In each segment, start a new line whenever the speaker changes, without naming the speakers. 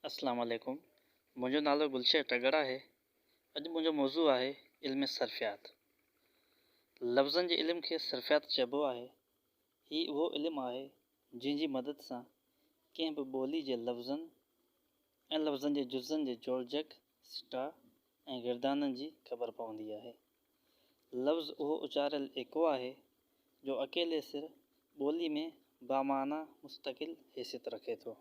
اسلام عليڪم منهنجو نالو گلشير ٽڳڙ آهي اڄ منهنجو موضوع آهي علم صرفيات لفظن جي علم کي صرفيات چئبو آهي هي اهو علم آهي جنهن جي مدد سان ڪنهن به ٻولي جي لفظن ۽ لفظن جي جزن جي جوڙجڪ سٽا ۽ گردانن جي خبر پوندي آهي لفظ اهو اچاريل ايڪو آهي، جو اڪيلي سر ٻوليء ۾ بامعنيٰ مستقل حيثيت رکي ٿو.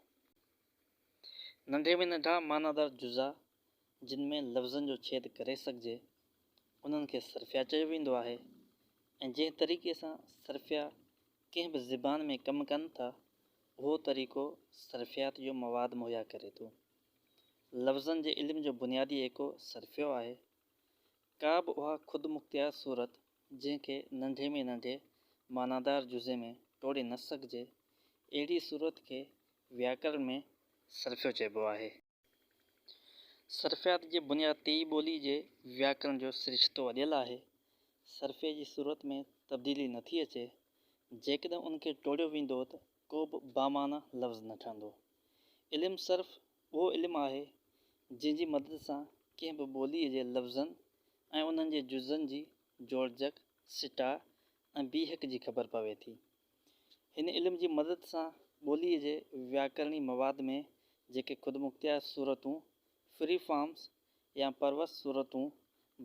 ننڍي ۾ ننڍا معنيٰدار جزا، جن ۾ لفظن جو ڇيد ڪري سگهجي، انهن کي صرفيا چيو ويندو آهي ۽ جنهن طريقي سان صرفيا ڪنهن به زبان ۾ ڪم ڪن ٿا، اهو طريقو صرفيات جو مواد مهيا ڪري ٿو. لفظن جي علم جو بنيادي ايڪو صرفيو آهي. ڪا به اها خودمختيار صورت جنهن کي ننڍي ۾ ننڍي معنادار جزي ۾ ٽوڙي نه سگهجي، اهڙي صورت کي وياڪرڻ ۾ صرفيو چئبو آهي. صرفيات جي بنياد تي ئي ٻولي جي وياڪرڻ جو سرشتو اڏيل آهي. صرفي جي صورت ۾ تبديلي نٿي اچي. جيڪڏهن ان کي ٽوڙيو ويندو ته ڪو به بامعنيٰ لفظ نه ٺهندو. علم صرف اهو علم آهي، جنهن جي مدد سان ڪنهن به ٻوليء جي لفظن ۽ انهن جي جزن جي جوڙجڪ، سٽاء ۽ بيهڪ جي خبر پوي ٿي. هن علم جي مدد سان ٻوليء جي وياڪرڻي مواد ۾ جيڪي خودمختيار صورتون، Free Forms، يا پروس صورتون،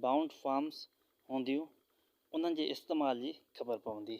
Bound Forms، هونديون، انهن جي استعمال جي خبر پوندي.